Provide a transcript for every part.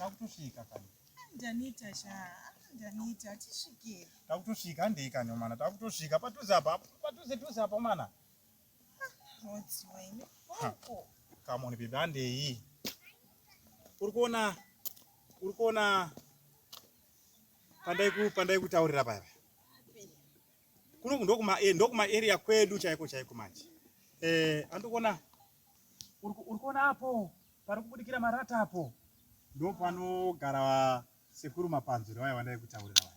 takutusvika kani ndanita sha ndanita tisvike takutosvika handei kani mwana takutosvika padhuze apa padhuze dhuze apa mwana Come on, baby, handei. Uri kuona uri kuona pandaiku pandaikutaurira paya kuno ndokuma eh, ndokuma area kwedu chaiko chaiko manje eh andikuona uri kuona apo pari kubudikira marata apo ndopanogara sekuru mapanzuro vaya vandaikutaurira vaya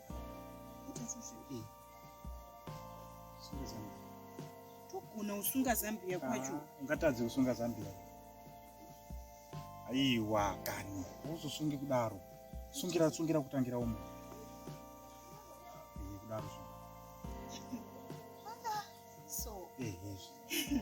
togona kusunga zambia kwacho ah, ungatadze kusunga zambia aiwa kani uzosungi kudaro sungira sungira kutangira umo eh, kudaro so ehe eh, eh.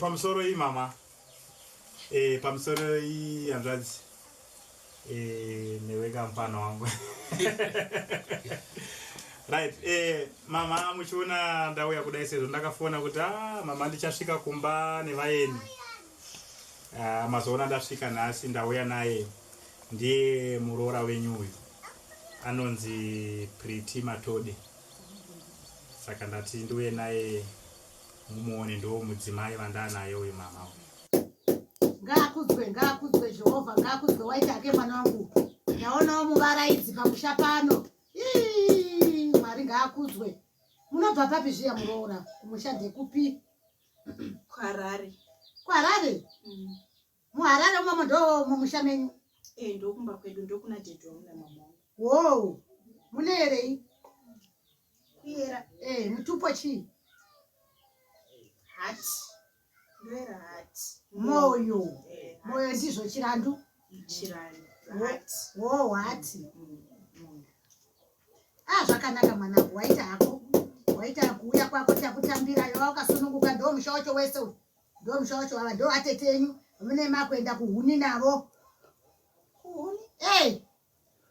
pamusoro iyi mama e, pamusoro iyi hanzvadzi eh, newe kampana wangu right eh, mama muchiona ndauya kudai sezvo ndakafona kuti ah, mama ndichasvika kumba nevaeni ah, mazoona ndasvika nhasi ndauya naye ndiye muroora wenyu uyu anonzi priti matode saka ndati ndiuye naye mumuone ndo mudzimai vandanaye uyu mama uyu ngaakudzwe ngaakudzwe jehovha ngaakudzwe waita ake mwana wangu ndaonawo muvaraidzi pamusha pano mwari ngaakudzwe munobva papi zviya muroora kumusha ndekupi kwarare kwarare mm. muharare umomo ndo mumusha menyu e ndokumba kwedu ndokuna dedi wangu namama wangu wow mune herei kuyera e mutupo chii hati ndoera hati moyo eh, moyo ndizvo chirandu chirandu hati wo hati mm, mm. a ah, zvakanaka mwanangu waita hako waita kuuya kwako takutambira yova ukasununguka ndo musha wacho wese uyu Ndo musha wacho ava ndo atete enyu mune makuenda kuhuni navo. Kuhuni? Eh.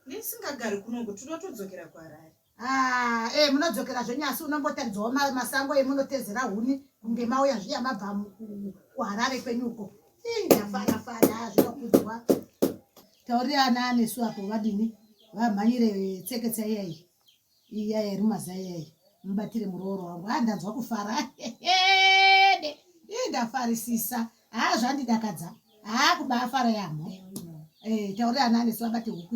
Ndisingagari kuno ngo tuno tudzokera kwa Harare. Ah, eh munodzokera zvenyasi unombotaridzawo ma, masango emunotezera huni kunge mauya zviya mabva mu- ku- ku Harare kwenyu uko. Eh, ndafara fara zvinokudzwa. Taurira ana anesu apo vadini? Vamhanyire tseketsa iya iyi. Iyaya iri mazai iyaya mubatire murooro wangu haa ndanzwa kufara hede ii ndafarisisa haa zvandidakadza haa kubaafara yamho eh, taurira ana anesu vabate huku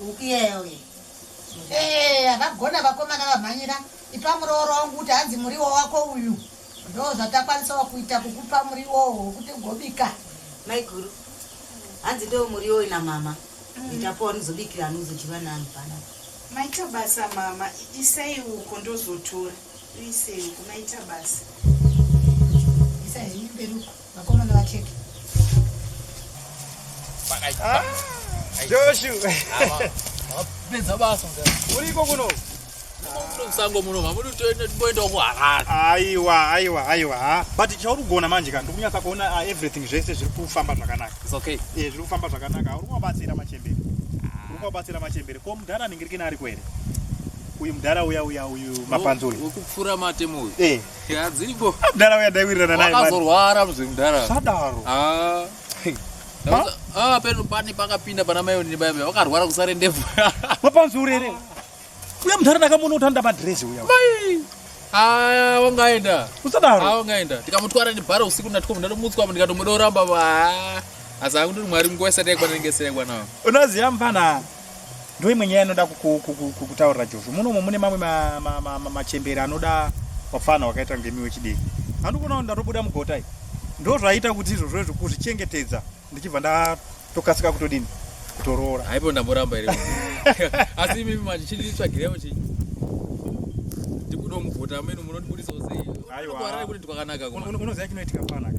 Ukiyewe. Eh, vakagona vakomana vamhanyira ipa murooro wangu kuti hanzi muriwo wako uyu ndo zvatakwanisawo kuita kukupa muriwo wokuti ugobika maiguru hanzi ndo muriwo ina mama mm. itapo wanozobikira anozodyiwa nani pana maita basa mama isai uko ndozotora isei uko maita basa isai mberi uko Vakomana vatete. Ah, Joshu. Pedza basa. Uriko kuno. Sango muno mamuri toenda toenda ku Harare. Aiwa, aiwa, aiwa. Ha, but chauri kugona manje ka ndikunyasa kuona uh, everything zvese zviri kufamba zvakanaka. It's okay. Eh, zviri kufamba zvakanaka. Uri kubatsira machembere. Uri kubatsira machembere. Ko mudhara anenge rikina ari kwere. Uyu mudhara uya uya uyu mapanzuri. Ukupfura matemo uyu. Eh. Ya dziriko. Mdara uya daiwirirana naye. Wakazorwara mzee mdara. Sadaro. Ah. Ah, peno pani pakapinda pana mai onini baba wakarwara kusare ndevu. Wapanzi urere. Uya mdara ndakamuona utanda madress uya. Mai. Ah, wangaenda. Usadaro. Ah, wangaenda. Tikamutwara nebhara usiku ndatiko ndatomutswa ndikatomudora baba. Asi akundiri mwari nguwa isati yaikwana ndingesere kwana. Unoziya mfana. ndo imwe nyaya inoda kutaurira josho munomo mune mamwe machembere anoda wapfana wakaita kunge miwe chidiki andiona kuti ndatobuda mugotai ndo zvaita kuti izvozvo izvo kuzvichengetedza ndichibva ndatokasika kutodini kutoroora haipo ndamboramba iri asi imimi manje chinditsvagirevo chii ndikudomuvhota amene munondibudisawo sei aiwa kuti ndikwakanaka unoziva chinoitika panaka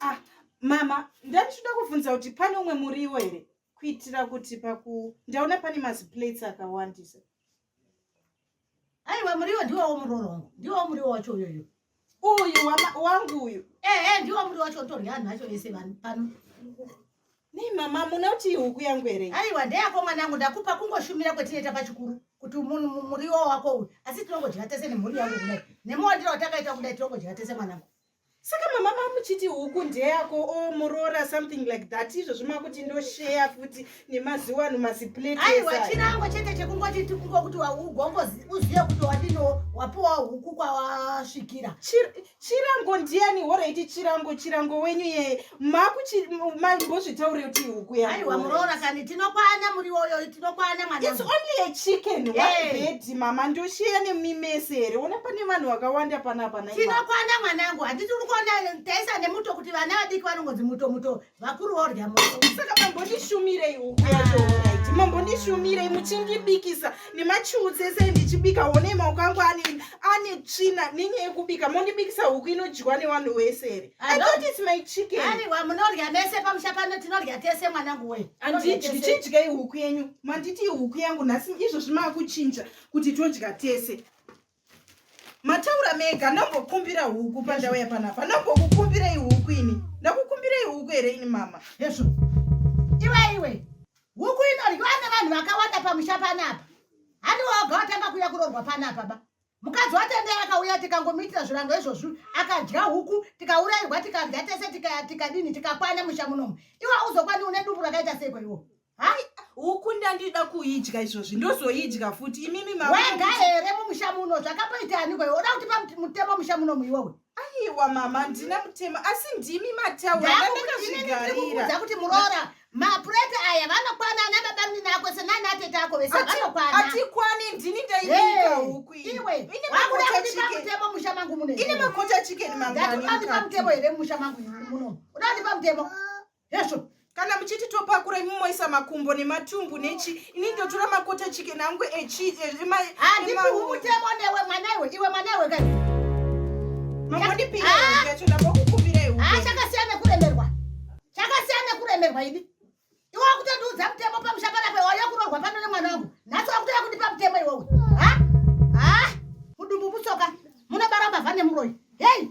Ah, mama ndanditoda kuvhunza kuti pane umwe muriwo here kuitira kuti paku ndaona pane maziplates akawandisa aiwa muriwo ndiwowo murorongo ndiwowo muriwo wacho uyoyo uyu wangu uyu ehe ndiwo muri wacho torya anhu acho vese vanhu pano nei mama munoti huku yangu here aiwa ndeyako mwana yangu ndakupa kungoshumira kwetinoita pachikuru kuti muriwo wako uyu asi tinongodya tese nemhuri yangu kudai nemawandiro watakaita kudai tinongodya tese mwanangu saka mama mamuchiti huku ndeyako o oh, muroora something like that izvozvo makuti ndosheya futi nemaziwa ano maziplate aiwa chirango chete chekungoti tikungo kuti ugongo uzive kuti wadino wapiwa huku kwawasvikira chirango ndiani horaiti chirango chirango wenyu ye makumbozvitaure kuti huku yaaiwa muroora kani tinokwana muriwo uyo tinokwana mwana it's only a chicken one eh. bed mama ndoshiya nemimese here ona pane vanhu vakawanda panapa na tinokwana mwanangu handiti uri kuona taisa nemuto kuti vana vadiki vanongonzi muto muto vakuru vaorya saka mambondishumireiwo ah. mambondishumirei muchindibikisa nemachiutsi ese ndichibika wonei maoko angu ane ane tsvina nenyaya yekubika mondibikisa huku inodyiwa nevanhu wese here aiwa munorya mese pamusha pano tinorya tese mwanangu we ndichidyei huku yenyu manditi huku yangu nhasi izvozvi maakuchinja kuti todya tese mataura mega ndombokumbira huku pandauya panapa ndombokukumbirei huku ini ndakukumbirei huku here ini mama hezvo iwe iwe huku inoryiwa nevanhu vakawanda pamusha panapa handi waoga watanga kuuya kurorwa panapa ba mukadzi watendera akauya tikangomuitira zvirango izvozvi akadya huku tikaurairwa tikadya tese tikadini tikakwana musha munomu iwe auzokwani une dumbu rakaita seiko iwo hai huku ndandida kuidya izvozvi ndozoidya futi imimi mawega here mumusha muno zvakapoita aniko iwe uda kuti mutemo musha muno muiwowe aiwa mama ndina mutemo asi ndimi mataurakuti muroora mapureti aya vanokwana ana babamunini ako senana atete ako vese vanokwana atikwani ndini ndaibika huku iwe wakudakuipamutemo musha mangu muno ine makota chicken mangani ndatipandipa mutemo here musha mangu muno udakundipa mutemo hezvo kana muchiti topakura imi moisa makumbo nematumbu nechi ini ndotora makota chicken angu echihandipiumutemo e, e, newe mwana iwe iwe mwana iwe kai mamondipirachakasiyana ah! nekuremerwa chakasiyana nekuremerwa ini iwe wakutondiudza mutemo pamusha panape wauya kurorwa pano nemwana wangu nhasi wakutoya kundipa mutemo iwowe ha ha mudumbu mutsoka munobara mbavha nemuroyi hei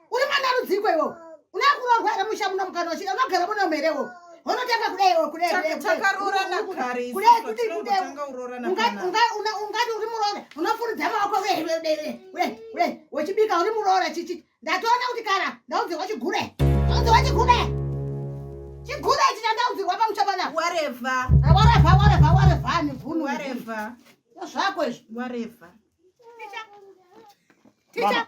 uri mwana rudziko iwo unakurorwa here musha muno mukana wachida unogara muno merewo unotanga kudai ungati uri muroora unofuridza maoko wechibika uri muroora chichi ndatoona kuti kana ndaudzirwa chigure ndaudzirwa chigure chigure chita ndaudzirwa pamuchabana wareva wareva wareva wareva nivhunu wareva zvako izvi wareva ticha ticha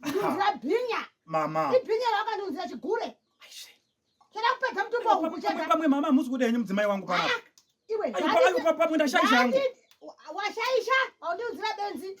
ndinzira bhinya mama ibhinya rawakandiunzira chigure chada kupedza mutumbo wangu pamwe mama hamusi kuda henyu mudzimai wangu paa ah, iwe pamwe ndashaisha hangu washaisha haundiunzira benzi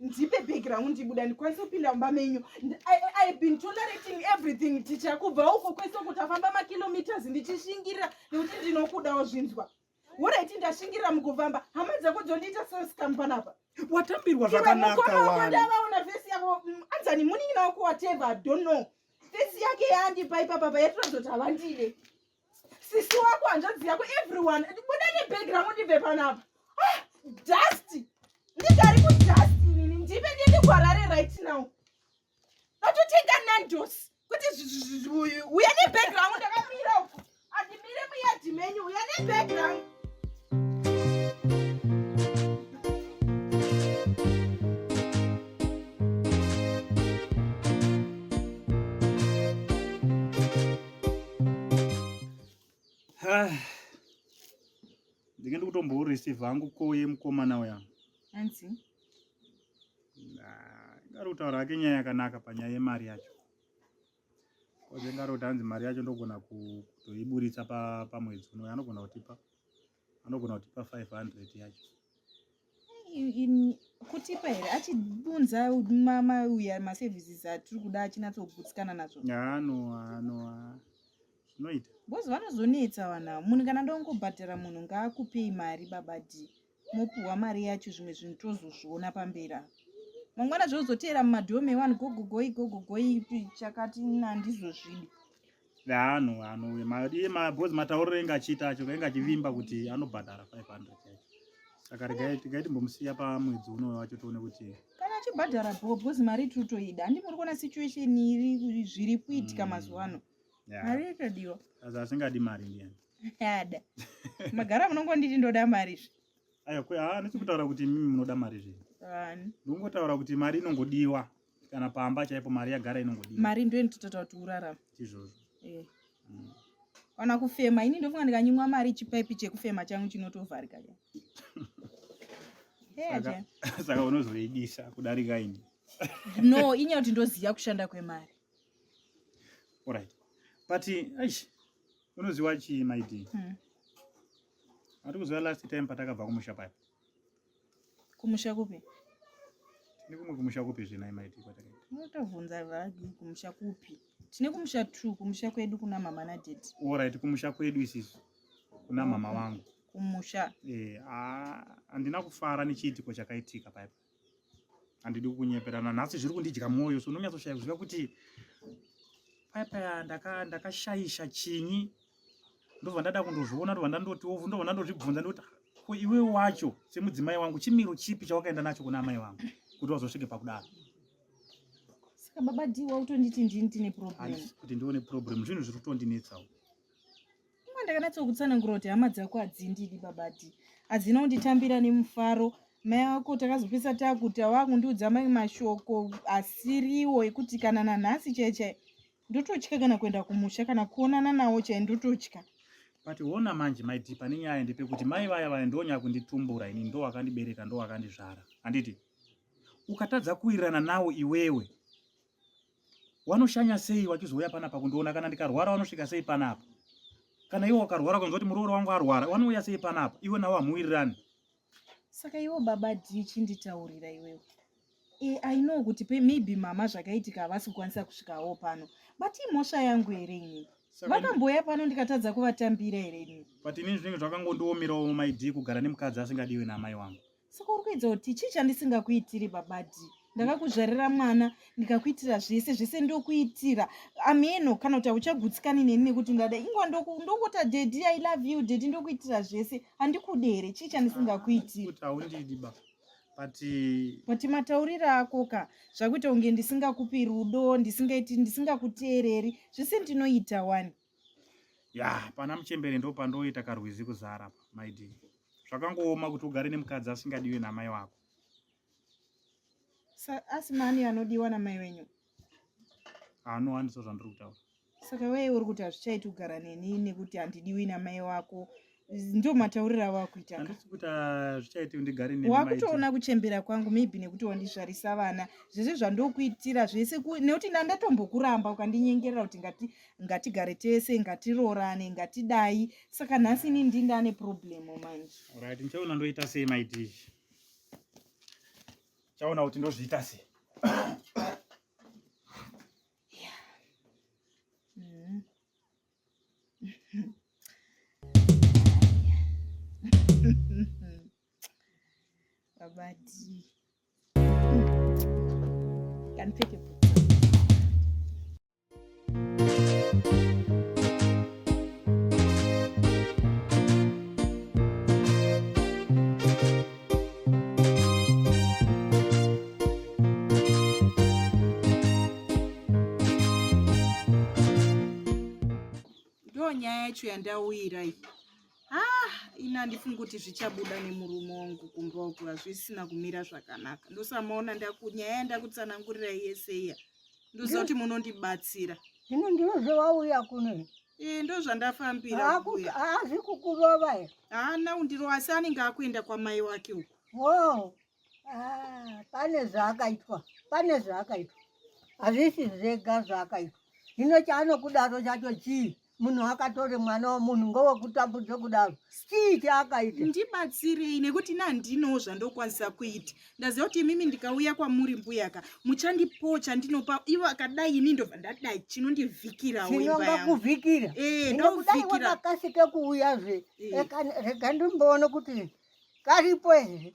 ndipe bhegi rangu ndibuda ndikwanise kupinda mumba menyu ive been tolerating everything ticha kubva uko kwese uko tafamba makilometers ndichishingirira nekuti ndinokudawo zvinzwa woraiti ndashingirira mukufamba hama dzako dzondiita sesikamu panapa watambirwa zvakanakandavaona fesi yavo mm, anzani munin'ina wako wateva don't know fesi yake yaandipa ipapa payatiradzoti havandide sisi wako hanzvadzi yako everyone buda nebhegi rangu ndibve panapa ah, dust ndigari kudust inini ndipe ndiende kuharare right now ndatotenga nandos kuti uya nebhegi rangu ndakamira uko andimire muyadhi menyu uya nebhegi rangu ndinge ndikutomboreceive hangu koye mukomana uya anzi ngari kutaura hake nyaya yakanaka panyaya yemari yacho koze ngari kuti hanzi mari yacho ndogona kutoiburitsa pamwedzi unoyo anogona kutipa anogona kutipa 500 yacho kutipa here achibunza mamauya maservices atiri kuda achinatsobutsikana nazvo anoanoa zvinoita bcoz vanozonetsa vana munhu kana ndongobhadhara munhu ngaakupei mari baba d mopiwa mari yacho zvimwe zvinhu tozozviona pamberi apa mangwana zvozoteera mumadhome wani gogogoi gogogoi chakati nandizvozvidi Yaano yaano we ma iye ma boss matauriro enga achiita acho enga achivimba kuti anobhadhara 500 chete. Saka regai tikai timbomusiya pa mwedzi uno wacho tione kuti kana achibhadhara bho because mari tiri kutoida handi muri kuona situation iri kuri- zviri kuitika Mm. mazuva ano yeah. mari yotodiwa Sasa asingadi mari ndiyani. ada magara munongonditi ndoda mari zve Ayo kwe ah nechikutaura kuti mimi munoda mari zve. Ani. Ndongotaura kuti mari inongodiwa. kana pamba chaipo mari yagara inongodii mari ndiyo inototaura kuti urarama izvozvo eh. mm. kana kufema ini ndofunga ndikanyimwa mari chipaipi chekufema changu chinotovharika cha eh, saka unozoidisa kudarika ini no inyaya kuti ndoziva kushanda kwemari orit but aish unoziwa chii maidi hmm. ati kuziva last time patakabva kumusha paipo Kumusha kupi? Tine kumwe kumusha kupi zvinai maiti kwatakaenda? Unotobvunza vagi kumusha kupi? Tine kumusha two, kumusha kwedu kuna mama na daddy. All right, kumusha kwedu isisu. Kuna mama wangu. Kumusha. Eh, ah, andina kufara nechiitiko chakaitika paipa. Andidi kukunyeperana nhasi zviri kundidya mwoyo so unonyatsoshaya kuziva kuti paipa ndaka ndakashaisha chinyi ndobva ndada kundozviona ndobva ndandoti ovu ndobva ndandozvibvunza ndoti ko iwe wacho semudzimai wangu chimiro chipi chawakaenda nacho kuna amai vangu kuti wazosvike pakudaro saka baba d wautonditi ndini tine problem kuti ndione problem zvinhu zviri kutondinetsawo kuma ndakanatsokutsanankura kuti hama dzako hadzindidi baba d hadzina kunditambira nemufaro mai ako takazopesa takuti awakundiudza mai mashoko asiriwo ekuti kana nanhasi chaichai ndototya kana kuenda kumusha kana kuonana nawo chai ndototya but hona manje mai dhi pane nyaya ndipe kuti mai vaya vaya ndonyaya kunditumbura ini ndo wakandibereka ndo wakandizvara handiti ukatadza kuwirirana nawo iwewe wanoshanya sei wachizouya panapa kundiona kana ndikarwara wanosvika sei panapa kana iwe wakarwara kunzwa kuti muroora wangu arwara wanouya sei panapa iwe nawo hamuwirirani saka iwo baba dii chinditaurira iwewe e, i know kuti pe maybe mama zvakaitika havasi kukwanisa kusvikawo pano but imhosva yangu here ini vakambouya pano ndikatadza kuvatambira here ini but inini zvinenge zvakangondiomirawo maidii kugara nemukadzi asingadiwe naamai wangu saka uri kuedza kuti chii chandisingakuitiri baba dii ndakakuzvarira mwana ndikakuitira zvese zvese ndokuitira ameno kana kuti hauchagutsikani neni nekuti ndada ingwa ndongota dedi i love you dedi ndokuitira zvese handikude here chii chandisingakuitiri but matauriro ako ka zvakuita kunge ndisingakupi rudo ndisingaiti ndisingakuteereri zvese ndinoita wani ya pana muchembere ndo pandoita karwizi kuzara maidi zvakangooma kuti ugare nemukadzi asingadiwe namai wako Sa- asi mani anodiwa namai wenyu haanowanisa zvandiri kutaura saka wee uri kuti hazvichaiti kugara neni nekuti handidiwi namai wako ndo matauriro avo akuita ka handisi kuti ah, zvichaiti ndigare nemi, maiti. wakutoona kuchembera kwangu maybe nekuti wandizvarisa vana zvese zvandokuitira zvese ku- nekuti na ndatombokuramba ukandinyengerera kuti ngati ngatigare tese ngatiroorane ngatidai saka nhasi ini ndindane problem manje Alright, ndichaona ndoita sei maiti chaona kuti ndozviita se babati kanipfeke nyaya yacho yandauyira iyi ah ini handifungi kuti zvichabuda nemurume wangu kumba uku hazvisina kumira zvakanaka ndosamaona nyaya yandakutsanangurira yese iya yeah. ndoziva kuti munondibatsira zvino ndiwo zvewauya kuno ee ndo zvandafambira haazi kukurova e haana undiro asi anenge akuenda kwamai wake uku wo ah, pane zvaakaitwa pane zvaakaitwa hazvisi zvega zvaakaitwa zvino chaanokudaro chacho chii munhu akatori mwana wemunhu ngowekutambudza kudaro stii chaakaita ndibatsirei nekuti ina handinoo zvandokwanisa kuita ndaziva kuti imimi ndikauya kwamuri mbuyaka muchandipoo chandinopa ivo akadai ini ndobva ndadai chinondivhikiraoakuvhikira eh, ndokudai wakakasike kuuya zve eh. rega ndimboone kuti karipo here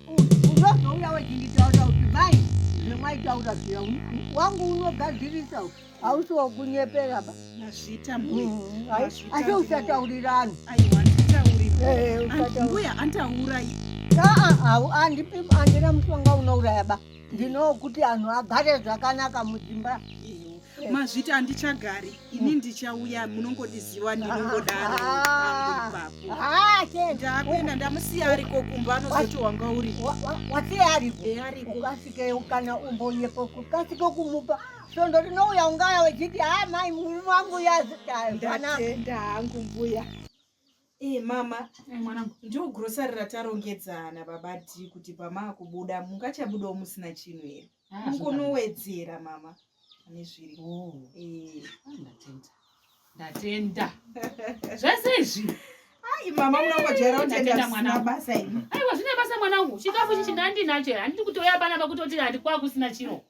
unozouya wechinditaura kuti mai zvemwaitaura zviya wangu unogadzirisa hausi wakunyepera ba nazvita mbuya mm, asi usataurira anhu eh, eh, mbuya antaurayi andipi andina mushonga unouraya ba ndinokuti anhu agare zvakanaka mudzimba mazviti andichagari ini ndichauya munongondiziva ndinongodaro ndakuenda ndamusiya ariko kumba anozoti wanga uri wasiya ariko ariko ukasike kana umboyepo kukasike kumupa svondo rinouya ungaya wechiti ha mai murume wangu yazitayo ndatenda hangu mbuya Ee mama eh, mwanangu ndiwo grocery ratarongedzana baba ti kuti pamaakubuda mungachabudawo musina chinhu here ah, mukonowedzera mama ane zviri oh. eh. ah, ndatenda ndatenda zvese izvi ai mama munongojaira kutenda mwana basa ini aiwa zvine basa mwanangu chikafu chichi ndandinacho handiti kutouya pana pakutoti handikwakusina chiro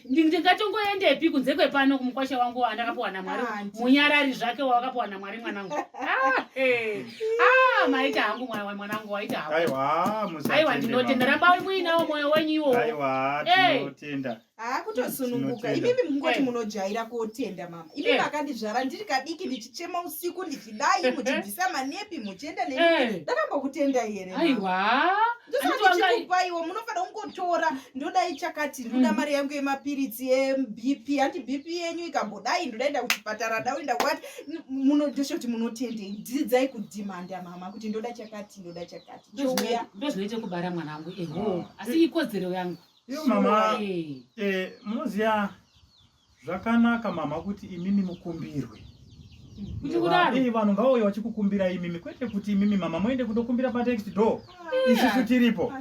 ndingatongoendepi kunze kwepano kumukwasha wangu andakapuwa namwari ah, munyarari zvake wawakapuwa namwari mwanangu ah, eh. ah, maita hangu mwana mwanangu waita hangu aiwa musa aiwa ndinotenda rambai muinawo moyo wenyu iwo aiwa eh. tinotenda ah kutosununguka imimi mungoti eh. munojaira kotenda mama imimi eh. akandizvara ndiri kadiki ndichichema usiku ndichidai muchibvisa manepi muchienda ne eh. ndakambokutenda here aiwa ndosaakuchikupaiwo munofanira kungotora ndodai chakati ndoda mm. mari yangu yemapiritsi ebp hanti bp yenyu ikambodai ndodaenda kuchipatara ndaoenda kwati munodosha kuti munotendei dzidzai kudhimanda mama kuti ndoda chakati ndoda chakati chouya ndozvinoita kubara mwana wangu eho ah. asi ikodzero yangu iyo mama eh. eh, munoziva zvakanaka mama kuti imimi mukumbirwe kuti kudaro eh, vanhu ngavauya vachikukumbira imimi kwete kuti imimi mama moende kundokumbira patext door isusu tiripo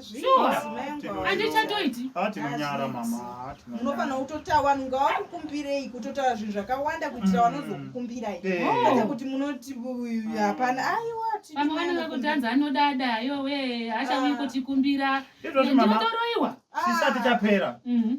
andichatoiti ah, tinonyara mama unofanira kutotaura vanhu ngavakukumbirei kutotaura zvinhu zvakawanda kuitira mm. vanozokukumbirai eh. oh. kwete kuti munoti hapana aiwa vamwe vanenge kutanza anodada yowe achauyi ah. kutikumbira ndotoroiwa chisati chapera mm-hmm.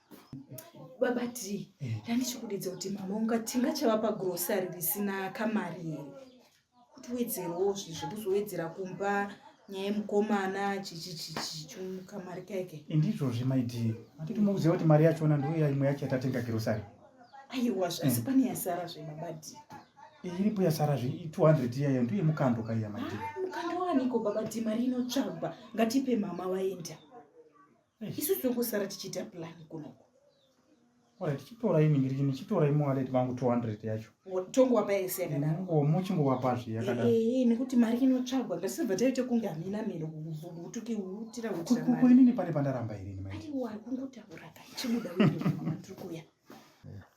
baba ti eh. ndandichikudidza kuti mama unga tinga chava pagrosari risina kamari here kuti wedzerewo zvizvo kuzowedzera kumba nyaya yemukomana chichichichichimukamari keke indizvozvi maidi atiti mukuziva kuti mari yachona ndiuya imwe yacho yatatenga grosari aiwa asi eh. pane yasara zve baba ti eh, iripo yasara zve 200 iyayo ndiuye mukando kaiya maidi ah, mukando waniko baba ti mari inotsvagwa ngatipe mama vaenda isu tiri kusara tichiita plan kunoko tichitora ini ngiriki ndichitora imwe waleti vangu 200 yacho tongowapa yese yakadaro muchingowapa zve yakadaro eh, eh, nekuti mari inotsvagwa ngatisibva taite kunge hamina miro utuki utira utira mari kuinini pane pandaramba irini mai wari kungotaura kai chibuda wedu matiri kuya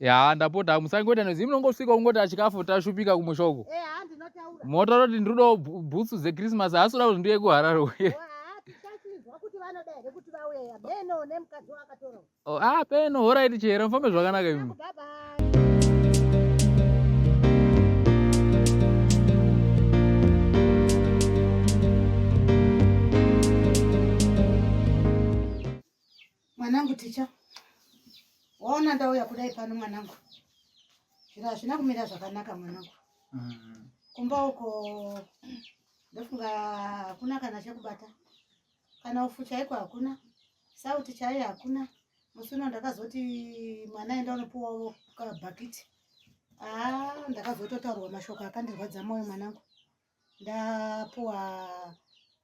ya ndapota musangoita nozi munongosvika kungoti achikafu tashupika kumusha uko eh, motaura kuti ndiri kudawo bhutsu dzechristmas haasi kuda kuti ndiye kuharare uye oh, ah peno horaiti chihera mufambe zvakanaka imi Mwanangu ticha, waona ndauya kudai pano mwanangu, zviro hazvina kumira zvakanaka mwanangu. Mm. Kumba uko ndofunga hakuna kana chekubata, kana ufu chaiko hakuna, sauti chaiyo hakuna. Musi uno ndakazoti mwana enda unopuwawo kabhakiti. Haa, ah, ndakazototaurwa mashoko akandirwadza moyo mwanangu. ndapuwa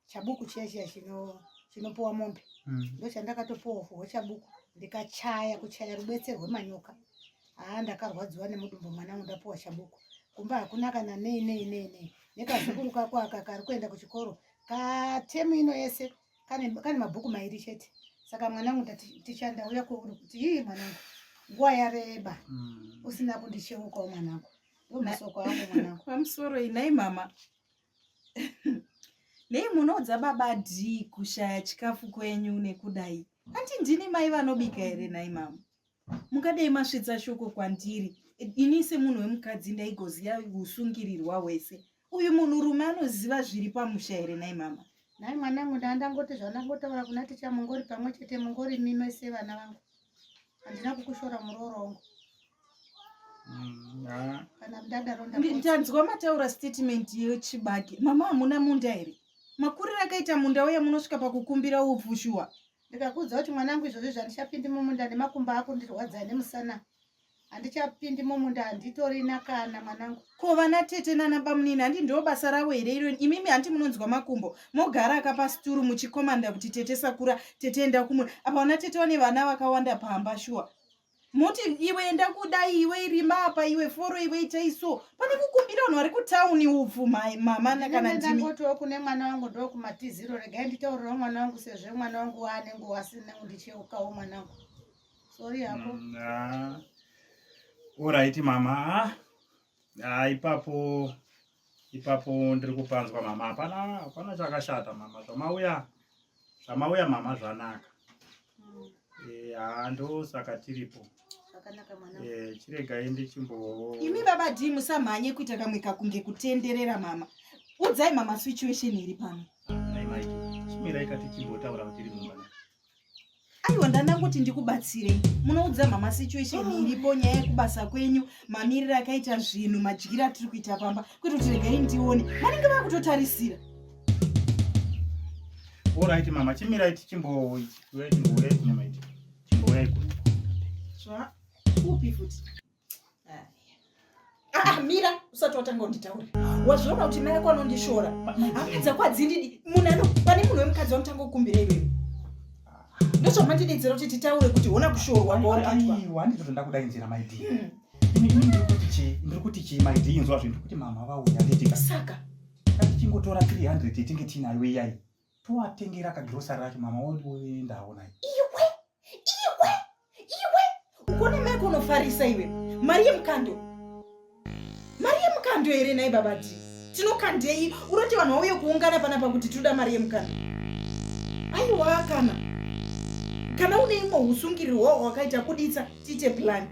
chabuku chiya chiya chino chinopuwa mombe mm. ndochandakatopuwa fuwo chabuku ndikachaya kuchaya rubetsero rwemanyoka haa ndakarwadziwa nemudumbu mwana wangu ndapuwa chabuku kumba hakuna kana nei nei nei nei nekazukuru kako aka kari kuenda kuchikoro katemu ino yese kane, kane mabhuku mairi chete saka mwanangu ndati ticha ndauya kwauri kuti ii mwanangu nguva yareba mm. usina kundicheukawo mwanangu ndomasoko angu mwanangu pamusoro inai mama nei munoudza baba dhii kushaya chikafu kwenyu nekudai hanti ndini mai vanobika here nhai mama mungadei masvitsa shoko kwandiri ini semunhu wemukadzi ndaigoziva usungirirwa hwese uyu munhu rume anoziva zviri pamusha here nai mama nai mwana wangu ndandangoti zvandangotaura kuna ticha mungori pamwe chete mungori mime sevana vangu handina kukushora murooro wangu mm, tanzwa mataura statement yechibage mama hamuna munda here makuriro akaita munda uye munosvika pakukumbira upfushuwa ndikakuudza kuti mwana wangu izvozvi zvandichapindi mumunda nemakumba ako ndirwadzaa nemusana handichapindi mumunda handitorina kana mwanangu ko vana tete nana bamunini handi ndo basa ravo here iro imimi handi munonzwa makumbo mogara akapa situru muchikomanda kuti tete sakura tete enda kumwe apa vana tete vane vana vakawanda pamba shuwa moti iwe enda kudai iwe irima apa iwe foro iwe itai so pane kukumbira vanhu vari kutauni upfu mama kana ndimikotiwo kune mwana wangu ndo kumatiziro regai nditaurirawo mwana wangu sezve mwana wangu waanenge wasinengu ndicheukawo mwana wangu sorry hapo mm, ah. alright mama ah, ah ipapo ipapo ndiri kupanzwa mama hapana hapana chakashata mama zvamauya zvamauya mama zvanaka mm. eh, haa ah, ndosaka tiripo eh, chiregai ndichimbo imi baba d musamhanye kuita kamwe kakunge kutenderera mama udzai mama situation iri pano chimirai kati chimbotaura kutiri mumba aiwa ndanda kuti ndikubatsirei munoudza mama situation oh. iripo nyaya yekubasa kwenyu mamiriro akaita zvinhu madyiro atiri kuita pamba kwete kuti regai ndione vanenge vakutotarisira orit mama chimirai tichimbouyai kuno upi futi Ah, mira usati watanga unditaure wazviona kuti mai ako anondishora hapedza kwadzindidi munhu ano pane munhu wemukadzi wanotanga kukumbira iwewe ndozvamandidedzera kuti titaure kuti hona kushorwa ngoaaiwandizvo zvandakuda inzira maidi hmm. ndiri kuti chii maidi inzwa zvinhu kuti mama vauya ndedika saka ngatichingotora 300 yetinge tiinayo iyai toatengera kagrosari racho mama woenda havo naye iwe iwe iwe ukone mai kunofarisa iwe mari yemukando mari yemukando here nai babati tinokandei unoti vanhu vauye kuungana pana pakuti tinoda mari yemukando aiwa kana kana une imwe usungiriro hwawo hwakaita kuditsa tiite plani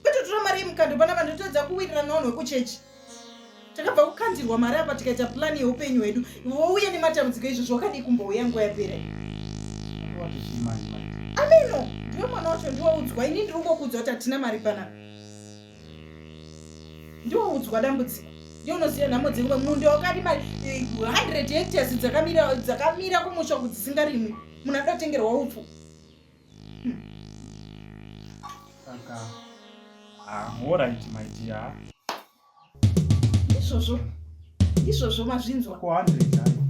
kwete tora mari yemukando pana vanhu totadza kuwirirana vanhu vekuchechi takabva kukandirwa mari apa tikaita plani yeupenyu hwedu wouya nematambudziko izvo zvawakadii kumbouya nguva yapera ameno ndiwe mwana wacho ndiwaudzwa ini ndiri kungokuudzwa kuti hatina mari pana ndiwaudzwa dambudziko ndiye unoziva nhamo dzenguva munda wakadi mari 100 eh, hectares dzakamira kumusha kuti dzisingarimwi munhu adotengerwa upfu Saka ahoraiti ah, maitia izvozvo izvozvo mazvinzwa ko hundred hayo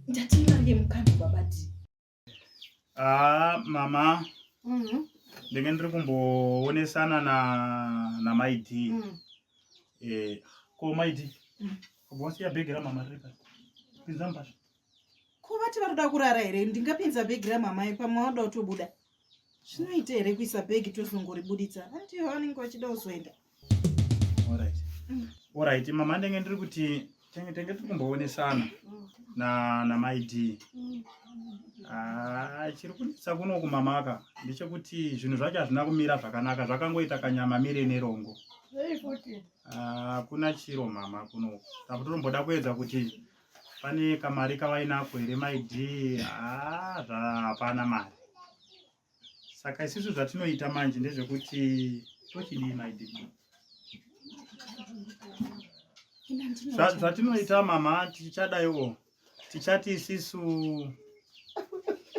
ndatii mari yemukadzi babati aa ah, mama mhm. ndenge ndiri kumboonesana na namaidi mhm. eh, ko maidi mm. kubosiya bhegi ramama riri pasi pinza mubasha ko vati vari kuda kurara here ndingapinza bhegi ramamai pamwe vanoda kutobuda zvinoita here kuisa bhegi tozongoribuditsa hanti ivo vanenge vachida kuzoenda orit mm. mama ndenge ndiri kuti tenge tenge tiri kumboonesana mm. namaid mm. ah, chiri kunetsa kuno kumamaka ndechekuti zvinhu zvacho hazvina kumira zvakanaka zvakangoita kanyama mire nerongo hakuna ah, chiro mama kuno takuti tomboda kuedza kuti pane kamari kavainako here maidi haa zvapana mari saka isisu zvatinoita manje ndezvekuti tochidii maidi zvatinoita mama tichadaiwo tichati isisu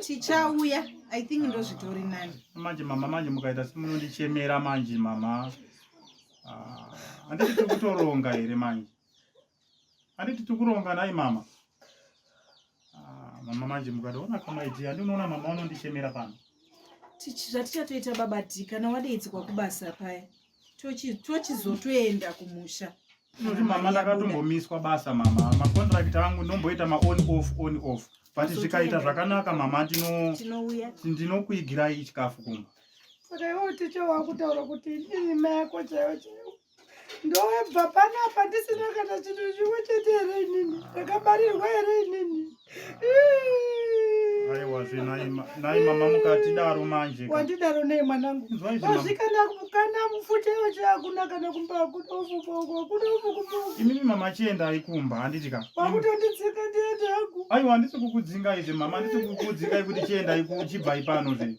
tichauya i think ndozvitori nani manje mama manje mukaita simunondichemera manje mama ah, handiti tikutoronga here manje Handiti tikuronga nhai mama? Ah, mama manje mukatoona kamaiti handinoona mama unondichemera pano. Zvatichatoita baba Dhi kana wadeidzwa kubasa paya tochizotoenda kumusha. Noti mama ndakatombomiswa basa mama makondirakiti angu ndomboita maon off on off but zvikaita zvakanaka mama ndinokuigirai chikafu kumba. Saka iwe ticha wakutaura kuti ndini mai yako chaiyo chaiyo. ndobva panapa ndisina kana chinhu chimwe chete here inini ndakabarirwa here inini aiwazvenaimamamukatidaro manje wandidaro nei mwanangu azvikana kana mufuta yocho akuna kana kumba akuda ufufa uko akuda ufukufa imimi mama achienda aikumba handiti ka wakutonditsika ndiende hangu aiwa handisi kukudzinga izve mama handisi kukudzinga ikuti chienda uchibva ipano zve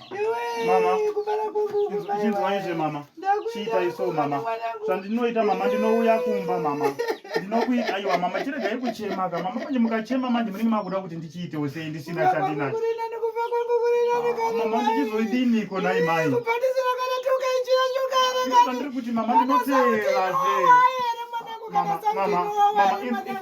chinzwaizve mama chiitai so mama zvandinoita mama ndinouya kumba mama ndinokuita aiwa mama chiregai kuchemaka mama manje mukachema manje munenge makuda kuti ndichiitewo sei ndisina chandinacho mama ndichizoidiniko nai mai ndiri kuti mama ndinoteerazve mama mama mama